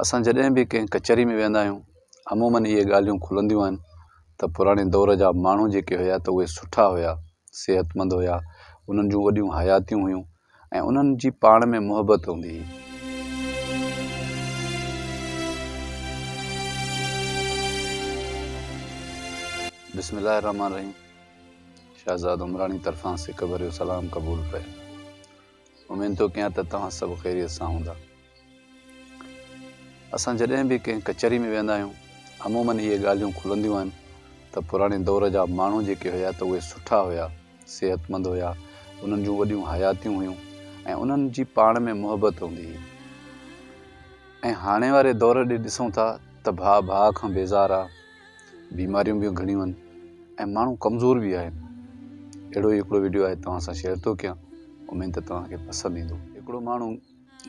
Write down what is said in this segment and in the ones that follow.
اسان جڏهن به ڪنهن ڪچهري ۾ ويهندا آهيون عموماً اهي ڳالهيون کلنديون آهن ته پراڻي دور جا ماڻهو جيڪي هيا ته اهي سٺا هيا، صحتمند هيا، انهن جون وڏيون حياتيون هيون ۽ انهن جي پاڻ ۾ محبت هوندي هئي. بسم الله الرحمٰن الرحيم شهزاد عمراڻي طرفان سڪ ڀريو سلام قبول ڪريو. اميد ٿو ڪيان ته توهان سڀ خيريت سان هوندا. اسان جڏهن به ڪنهن ڪچهري ۾ ويهندا آهيون عمومن اهي ڳالهيون کلنديون آهن ته پراڻي دور جا ماڻهو جيڪي هيا ته اهي سٺا هيا، صحتمند هيا، انهن جون وڏيون حياتيون هيون ۽ انهن جي پاڻ ۾ محبت هوندي هئي ۽ هاڻي واري دور ڏي ڏسون ٿا ته ڀاء ڀاء کان بيزار آ، بيماريون به گهڻيون آهن ۽ ماڻهو ڪمزور به آهن اهڙو ئي هڪڙو وڊيو آهي توهان سان شيئر ٿو ڪيان اميد ته توهان کي پسند ايندو هڪڙو ماڻهو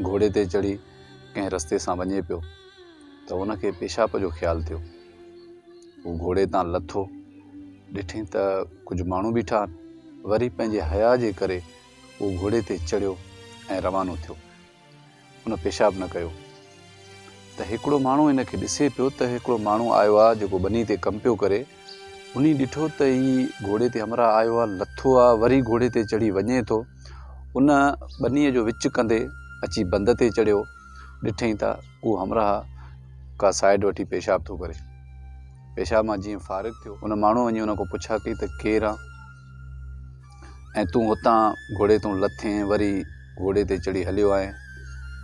گهوڙي تي چڙهي ڪنهن رستي سان وڃي پيو ته ان کي پيشاب جو خيال ٿيو هو گهوڙي تان لٿو ڏٺائين ته ڪجهه ماڻهو بيٺا آهن وري پنهنجي حيا جي ڪري هو گهوڙي تي چڙهيو ۽ روانو ٿيو ان پيشاب نه ڪيو ته هڪڙو ماڻهو ان کي ڏسي پيو ته هڪڙو ماڻهو آيو آ جيڪو ٻني تي ڪم پيو ڪري انهي ڏٺو ته هي گهوڙي تي همراهه آيو آ لٿو آ وري گهوڙي تي چڙهي وڃي ٿو ان ٻني جو وچ ڪندي اچي بند تي چڙهيو ڏٺئين ته اهو همراهه ڪا سائيڊ وٺي پيشاب ٿو ڪري پيشاب مان جيئن فارغ ٿيو ان ماڻهو وڃي ان کان پڇا ڪئي ته ڪير آ؟ ۽ تون اتان گهوڙي تون لٿين وري گهوڙي تي چڙهي هليو آئين.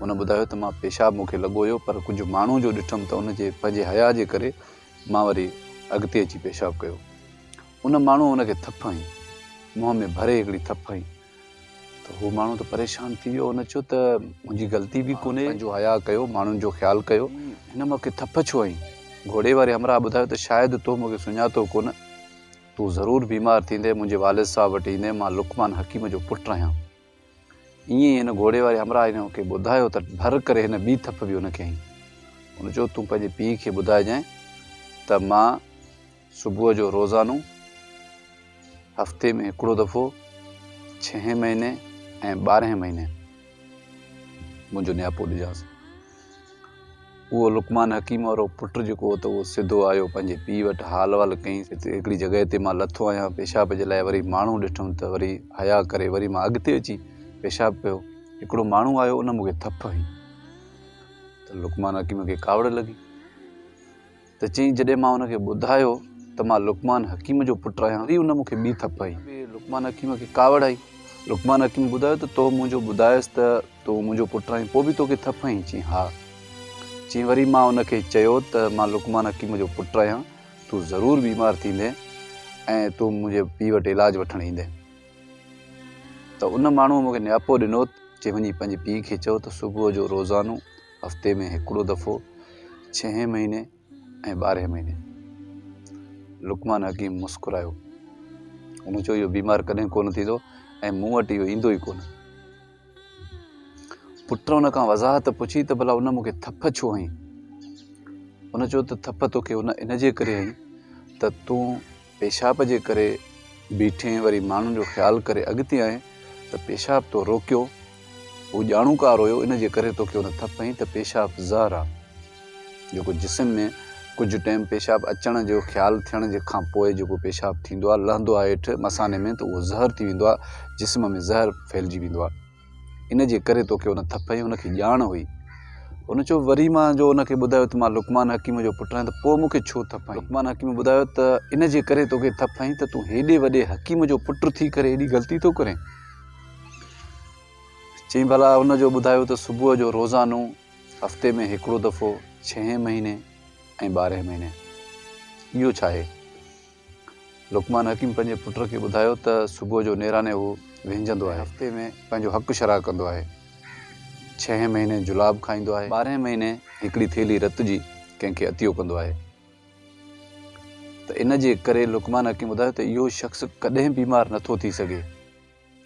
هن ٻڌايو ته مان پيشاب مون کي لڳو هيو پر ڪجهه ماڻهو جو ڏٺم ته ان جي پنهنجي حياء جي ڪري مان وري اڳتي اچي پيشاب ڪيو. ان ماڻهوء هن کي ٿڦ هنئي. منهن ۾ ڀري هڪڙي ٿڦ هنئي ته هو ماڻهو ته پريشان ٿي ويو. هن چيو ته منهنجي غلطي به ڪونهي. پنهنجو حياء ڪيو، ماڻهن جو خيال ڪيو. هن مون کي ٿڦ ڇو هنئي؟ گهوڙي واري همراهه ٻڌايو ته شايد تو مون کي سڃاتو ڪونه. تون ضرور بيمار ٿيندين، منهنجي والد صاحب وٽ ايندين، مان لقمان حڪيم جو پٽ رهيان. ائين ئي هن گهوڙي واري همراهه ان کي ٻڌايو ته ڀر ڪري هن ٻي ٿڦ به ان کي هنئي. هن چيو تون پنهنجي پيء کي ٻڌائجانء ته مان صبح جو روزانو، هفتي ۾ هڪڙو دفعو، ڇهين مهيني ۽ ٻارهين مهيني منهنجو نياپو ڏجانس. اهو لقمان حڪيم وارو پٽ جيڪو هو ته اهو سڌو آيو پنهنجي پيء وٽ حال وال ڪيائين ته هڪڙي جڳهه تي مان لٿو آهيان پيشاب جي لاء وري ماڻهو ڏٺم ته وري حياء ڪري وري مان اڳتي اچي پيشاب ڪيو هڪڙو ماڻهو آيو ان مون کي ٿڦ هنئي ته لقمان حڪيم کي ڪاوڙ لڳي ته چيائين، جڏهن مان ان کي ٻڌايو ته مان لقمان حڪيم جو پٽ آهيان، وري ان مون کي ٻي ٿڦ هنئي. لقمان حڪيم کي ڪاوڙ آئي. لقمان حڪيم ٻڌايو ته تو منهنجو ٻڌايس ته تون منهنجو پٽ آهين، پوء به تو کي ٿڦ هنئي؟ چيائين، ها. چيائين، وري مان ان کي چيو ته مان لقمان حڪيم جو پٽ آهيان، تون ضرور بيمار ٿيندين ۽ تون منهنجي پيء وٽ علاج وٺڻ ايندين. ته ان ماڻهوء مون کي نياپو ڏنو، چيائين، وڃي پنهنجي پيء کي چئو ته صبح جو روزانو هفتي ۾ هڪڙو دفعو، ڇهين مهيني ۽ ٻارهين مهيني. لقمان حڪيم مسڪرايو. هن چيو، اهو بيمار ڪڏهن ڪونه ٿيندو ۽ مون وٽ اهو ايندو ئي ڪونه. پٽ ان کان وضاحت پڇي ته ڀلا ان مون کي ٿڦ ڇو هنئي؟ هن چيو ته ٿڦ تو کي ان جي ڪري هنئي ته تون پيشاب جي ڪري بيٺين وري ماڻهن جو خيال ڪري اڳتي آئين ته پيشاب تو روڪيو هو ڄاڻوڪار هيو ان جي ڪري توکي ان ٿڦ هنئي ته پيشاب زهر آ جيڪو جسم ۾ ڪجهه ٽيم پيشاب اچڻ جو خيال ٿيڻ جي کان پوء جيڪو پيشاب ٿيندو آ لهندو آ هيٺ مثاني ۾ ته اهو زهر ٿي ويندو آ جسم ۾ زهر ڦهلجي ويندو آ ان جي ڪري توکي ان ٿڦ ۽ ان کي ڄاڻ هئي. هن چيو، وري مان جو ان کي ٻڌايو ته مان لقمان حڪيم جو پٽ آهيان ته پوء مون کي ڇو ٿڦ هنئي؟ لقمان حڪيم ٻڌايو ته ان جي ڪري توکي ٿڦ هنئي ته تون هيڏي وڏي حڪيم جو پٽ ٿي ڪري ايڏي غلطي ٿو ڪرين؟ چيائين، ڀلا هن جو ٻڌايو ته صبح جو روزانو، هفتي ۾ هڪڙو دفعو، ڇهين مهيني ۽ ٻارهين مهيني. اهو ڇا آهي؟ لقمان حڪيم پنهنجي پٽ کي ٻڌايو ته صبح جو نيراني هو وهنجندو آهي. هفتي ۾ پنهنجو حق شرح ڪندو آهي. ڇهين مهيني جلاب کائيندو آهي. ٻارهين مهيني هڪڙي ٿيلهي رت جي ڪنهن کي عطيو ڪندو آهي. ته ان جي ڪري لقمان حڪيم ٻڌايو ته اهو شخص ڪڏهن بيمار نٿو ٿي سگهي.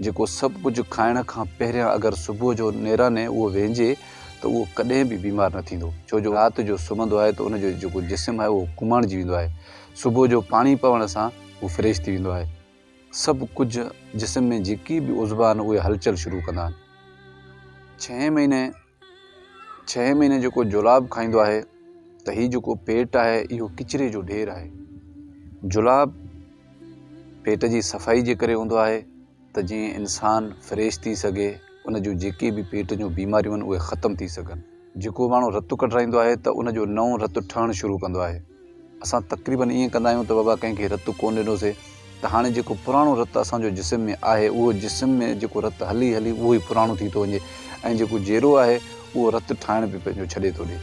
جيڪو سڀ ڪجهه کائڻ کان پهريان اگر صبح جو نيراني اهو ويهنجي ته اهو ڪڏهن به بيمار نه ٿيندو ڇو جو رات جو سمهندو آهي ته ان جو جيڪو جسم آهي اهو ڪماڻجي ويندو آهي صبح جو پاڻي پوڻ سان هو فريش ٿي ويندو آهي سڀ ڪجهه جسم ۾ جيڪي به عضوا آهن اهي هلچل شروع ڪندا آهن ڇهين مهيني ڇهين مهيني جيڪو جلاب کائيندو آهي ته هي جيڪو پيٽ آهي اهو ڪچري جو ڍير آهي جلاب پيٽ جي صفائي جي ڪري هوندو آهي ته جيئن انسان فريش ٿي سگهي ان جون جيڪي به پيٽ جون بيماريون آهن اهي ختم ٿي سگهن جيڪو ماڻهو رت ڪڍرائيندو آهي ته ان جو نئون رت ٺهڻ شروع ڪندو آهي اسان تقريباً ائين ڪندا آهيون ته بابا ڪنهن کي رت ڪونه ڏنوسي ته هاڻي جيڪو پراڻو رت اسان جو جسم ۾ آهي اهو جسم ۾ جيڪو رت هلي هلي اهو ئي پراڻو ٿي ٿو وڃي ۽ جيڪو جيرو آهي اهو رت ٺاهڻ به پنهنجو ڇڏي ٿو ڏي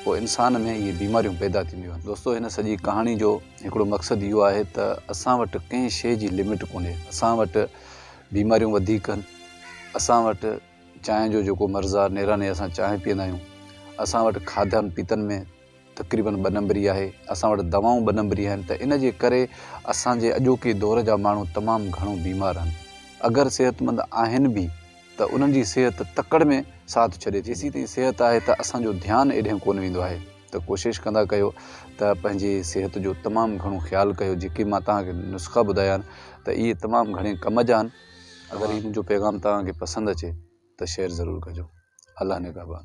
پوء انسان ۾ اهي بيماريون پيدا ٿينديون آهن دوستو هن سڄي ڪهاڻي جو هڪڙو مقصد اهو آهي ته اسان وٽ ڪنهن شيء جي لمٽ ڪونهي اسان وٽ بيماريون وڌيڪ آهن اسان وٽ چانهه جو جيڪو مرض آهي نيراني اسان چانهه پيئندا آهيون اسان وٽ کاڌن پيتن ۾ تقريبن ٻه نمبري آهي، اسان وٽ دوائون ٻه نمبري آهن ته ان جي ڪري اسان جي اڄوڪي دور جا ماڻهو تمام گهڻو بيمار آهن، اگر صحتمند آهن به ته انهن جي صحت تڪڙ ۾ ساٿ ڇڏي ٿي، جيسين تائين صحت آهي ته اسان جو ڌيان ايڏهن ڪونه ويندو آهي ته ڪوشش ڪندا ڪيو ته پنهنجي صحت جو تمام گهڻو خيال ڪيو، جيڪي مان توهان کي نسخا ٻڌايا آهن ته اهي تمام گهڻي ڪم جا آهن. اگر هي منهنجو پيغام توهان کي پسند اچي ته شيئر ضرور ڪجو. الله نگهبان.